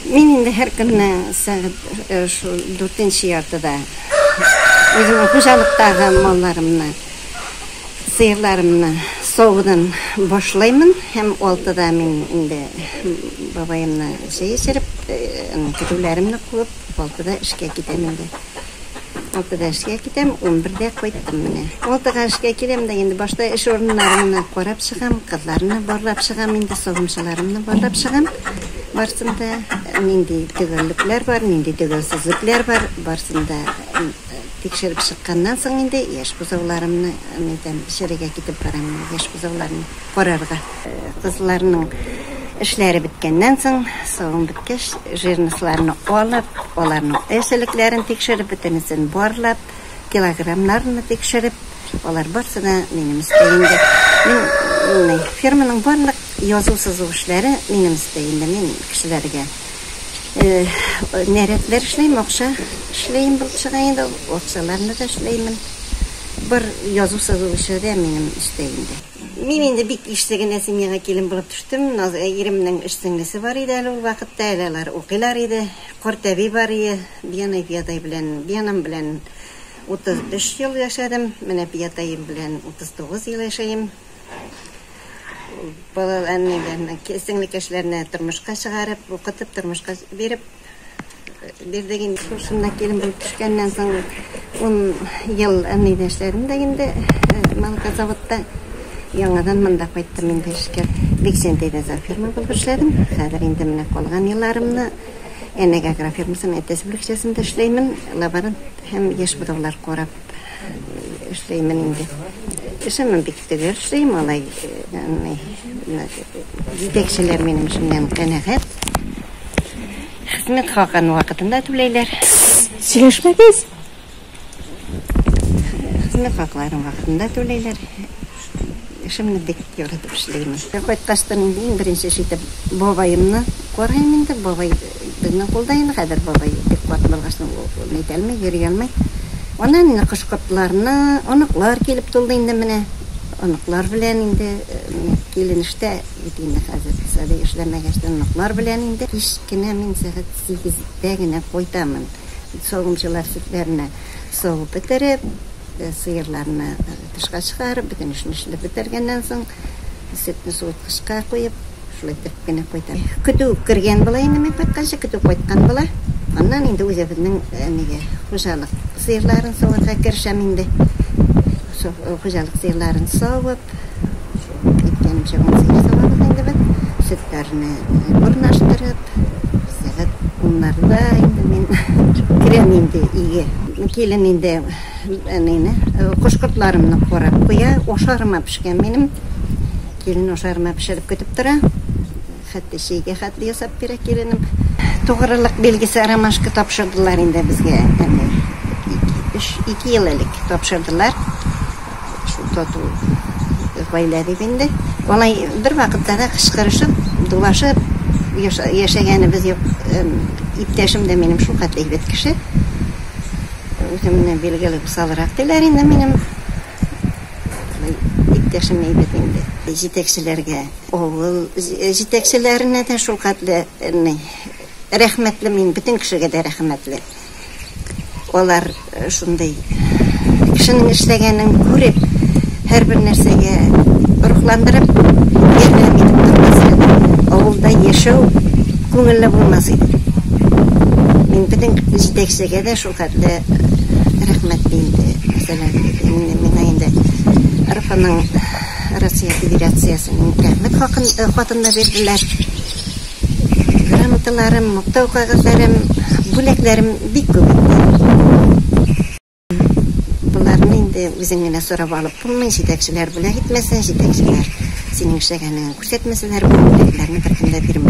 Мин инде һәр көнне сәгать э, шул дүртенче яртыда үземнең хуҗалыктагы малларымны, сыерларымны савудан башлаймын һәм алтыда мин инде бабаемны чәй эчереп, э, көтүләремне куып, алтыда эшкә китәм инде. Алтыда эшкә китәм, унбердә кайттым менә. Алтыга эшкә киләм дә инде башта эш урыннарымны карап чыгам, кызларны барлап чыгам инде, савымчыларымны барлап чыгам. Барсын да нинди төгәллекләр бар, нинди төгәлсезлекләр бар, барсын да тикшереп чыкканнан соң инде яшь бозауларымны, нитәм, эчәргә китеп барам, яшь бозауларны карарга. Кызларның эшләре беткәннән соң, савым беткәч, жирнысларны алып, аларның эсселекләрен тикшереп, бөтенесен барлап, килограммнарны тикшереп, алар барысы да минем өстәлемдә. Мин ферманың барлык язу-сызу эшләре минем өстәлемдә, мин кешеләргә нәрәтләр эшлим, акча эшлим булып чыга инде, акчаларны да эшләймен. Бар язу-сызу эше дә минем өстәлемдә. Мин инде бик ишле генә семьяга килен булып төштем. Наз иремнең өч сеңлесе бар иде әле ул вакытта, әле алар укыйлар иде. Картәби бар ие, Биянай Пиятай белән, биянам белән 33 ел яшәдем, менә Пиятаем белән 39 ел яшәем. Балаларны, сеңлекәшләрне тормышка чыгарып, укытып, тормышка биреп, Бирдек инде шушында килен булып төшкәннән соң ун ел әнине эшләдем дә инде Малкозаводта. Яңадан монда кайттым инде эшкә. Биксен дигән ферма булып эшләдем. Хәзер инде менә калган елларымны Әнәгә агрофирмасының әтәс бүлекчәсендә эшләймен. Лаборант һәм яшь будаулар карап. Эшләймен инде. Эшемне бик төгәл эшлим, алай җитәкчеләр минем эшемнән канәгать. Хезмәт хакын вакытында түләйләр. Сөйләшмәгез. Хезмәт хакларын вакытында түләйләр. Эшемне бик яратып эшлим. Кайткач та мин иң беренче эш итеп бабаемны карыйм инде. Бабай безнең кулда инде хәзер. Бабай бик карт булгач, ул нитә алмый, йөри алмый. Аннан инде кош-кортларны, оныклар килеп тулды инде менә. Оныклар белән инде, менә килен эштә бит инде хәзер. Сабый эшләмәгәч тә оныклар белән инде. Кич кенә мин сәгать сигездә генә кайтамын. Савымчылар сөтләрне савып бетереп, сыерларны. Тышка чыгарып, бөтен эшне эшләп бетергәннән соң, сөтне суыткычка куеп, шулай төртеп кенә куйдым. Көтү кергән була инде мин кайтканчы, көтү кайткан була. Аннан инде үзебезнең нигә, хуҗалык сыерларын саварга керешәм инде. Хуҗалык сыерларын савып, шул әйткәнемчә, ун сыер савабыз инде без. Сөтләрне урнаштырып, сәгать уннарда инде мин керәм инде өйгә. Килен инде. Әнине, кош-кортларымны карап куя, ашарыма пешкән минем. Килен ашарыма пешереп көтеп тора. Хәтта чәйгә хәтле ясап бирә киленем. Тугрылык билгесе ромашка тапшырдылар инде безгә. Әни, өч, ике ел элек тапшырдылар. Шул тату гаилә бит инде. Алай бер вакытта да кычкырышып, дулашып яшәгәнебез юк. Иптәшем дә минем шул хәтле әйбәт кеше. Үземне билгеле усалрак диләр инде минем иптәшем әйбер инде. Җитәкчеләргә, авыл җитәкчеләренә дә шул хәтле рәхмәтле мин, бөтен кешегә дә рәхмәтле. Алар шундый кешенең эшләгәнен күреп, Һәрбер нәрсәгә рухландырып, ярдәм итеп тормаса, авылда яшәү күңелле булмас иде. Мин безнең җитәкчегә дә шул хәтле рәхмәт ди инде. Мәсәлән, миңа инде РФның, Россия Федерациясенең Рәхмәт хакын, хатын да бирделәр. Грамоталарым, мактау кәгазьләрем, бүләкләрем бик күп инде. Боларны инде үзең генә сорап алып булмый, җитәкчеләр бүләк итмәсә, җитәкчеләр синең эшләгәнеңне күрсәтмәсәләр, бу бүләкләрне беркем дә бирми.